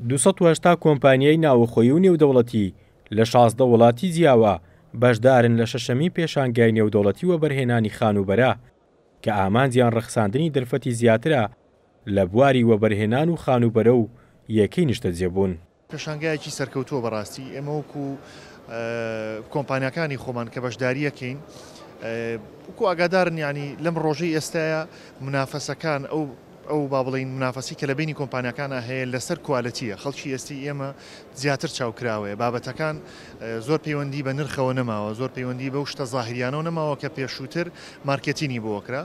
دوو سەد و هەشتا کۆمپانیای ناوەخۆیی و نێودەوڵەتی لە شازدە وڵاتی جیاوا بەشدارن لە شەشەمین پێشانگای نێودەوڵەتی وەبەرهێنانی خانووبەرە کە ئامانجیان ڕەخساندنی دەرفەتی زیاترە لە بواری وەبەرهێنان و خانووبەرە و یەکەی نیشتەجێبوون. پێشانگایەکی سەرکەوتووە بەڕاستی ئێمە وەکو کۆمپانیاکانی خۆمان کە بەشداریەکەین وەکو ئاگادارن ینی لەم ڕۆژەی ئێستاە منافەسەکان ئەو ئەو با بڵین منافەسی کە لە بینی کۆمپانیەکان هەیە لەسەر کوالەتیە خەڵکی ئێستی ئێمە زیاتر چاوکراوەیە بابەتەکان زۆر پەیوەندی بە نرخەوە نەماوە زۆر پەیوەندی بەو شتە زاهریانەوە نەماوە کە پێشووتر مارکتینی بۆکرا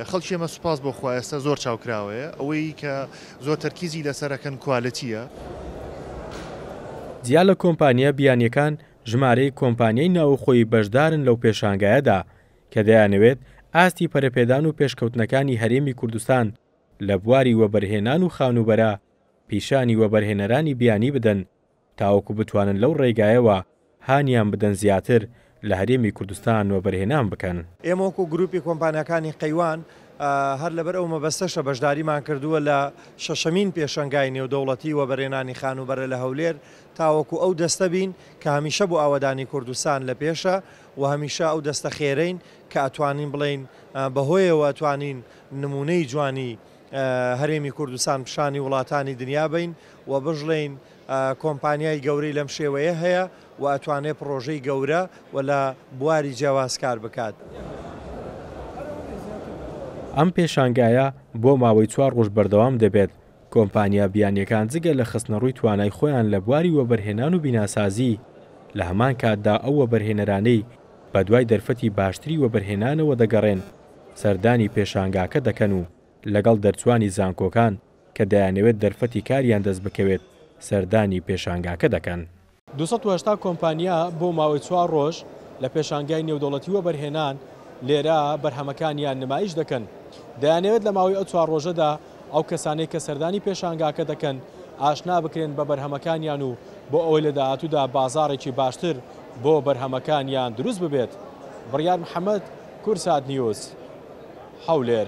خەڵکی ئێمە سوپاس بۆ خوا ئێستا زۆر چاوکراوەیە، ئەوەی کە زۆر تەرکیزی لەسەر ئەکەن کوالێتییە. جیا لە کۆمپانیا بیانیەکان ژمارەیەک کۆمپانیای ناوخۆیی بەشدارن لەو پێشانگایەدا کە دەیانەوێت ئاستی پەرەپێدان و پێشکەوتنەکانی هەرێمی کوردستان لە بواری وەبەرهێنان و خانووبەرە پیشانی وەبەرهێنەرانی بیانی بدەن تاوەکو بتوانن لەو ڕێگایەوە هانیان بدەن زیاتر لە هەرێمی کوردستان وەبەرهێنان بکەن. ئێمە وەکو گروپی کۆمپانیاکانی قەیوان هەر لەبەر ئەو مەبەستەشە بەشداریمان کردووە لە شەشەمین پێشەنگای نێودەوڵەتی وەبەرهێنانی خانووبەرە لە هەولێر تاوەکو ئەو دەستە بین کە هەمیشە بۆ ئاوەدانی کوردستان لە پێشە و هەمیشە ئەو دەستە خێرەین کە ئەتوانین بڵێین بەهۆیەوە توانین نموونەی جوانی هەرێمی کوردستان پیشانی وڵاتانی دنیا بین و بژڵێین کۆمپانیای گەورەی لەم شێوەیە هەیە و ئەتوانێت پڕۆژەی گەورە و لە بواری جیاواز کار بکات. ئەم پێشانگایە بۆ ماوەی چوار ڕۆژ بەردەوام دەبێت، کۆمپانیا بیانییەکان جگە لە خستنەڕووی توانای خۆیان لە بواری وەبەرهێنان و بیناسازی، لە هەمان کاتدا ئەو وەبەرهێنەرانەی بەدوای دەرفەتی باشتری وەبەرهێنانەوە دەگەڕێن، سەردانی پێشانگاکە دەکەن و لەگەڵ دەرچووانی زانکۆکان، کە دەیانەوێت دەرفەتی کاریان دەست بکەوێت سەردانی پێشانگاکە دەکەن. دوو سەد و هەشتا کۆمپانیا بۆ ماوەی چوار ڕۆژ لە پێشانگای نێودەوڵەتی وەبەرهێنان لێرە بەرهەمەکانیان نمایش دەکەن. دەیانەوێت لە ماوەی ئەو چوار ڕۆژەدا ئەو کەسانەی کە سەردانی پێشانگاکە دەکەن ئاشنا بکرێن بە بەرهەمەکانیان و بۆ ئەوەی لە داهاتوودا بازاڕێکی باشتر بۆ بەرهەمەکانیان دروست ببێت. بڕیار محەمەد، کورسات نیوز، هەولێر.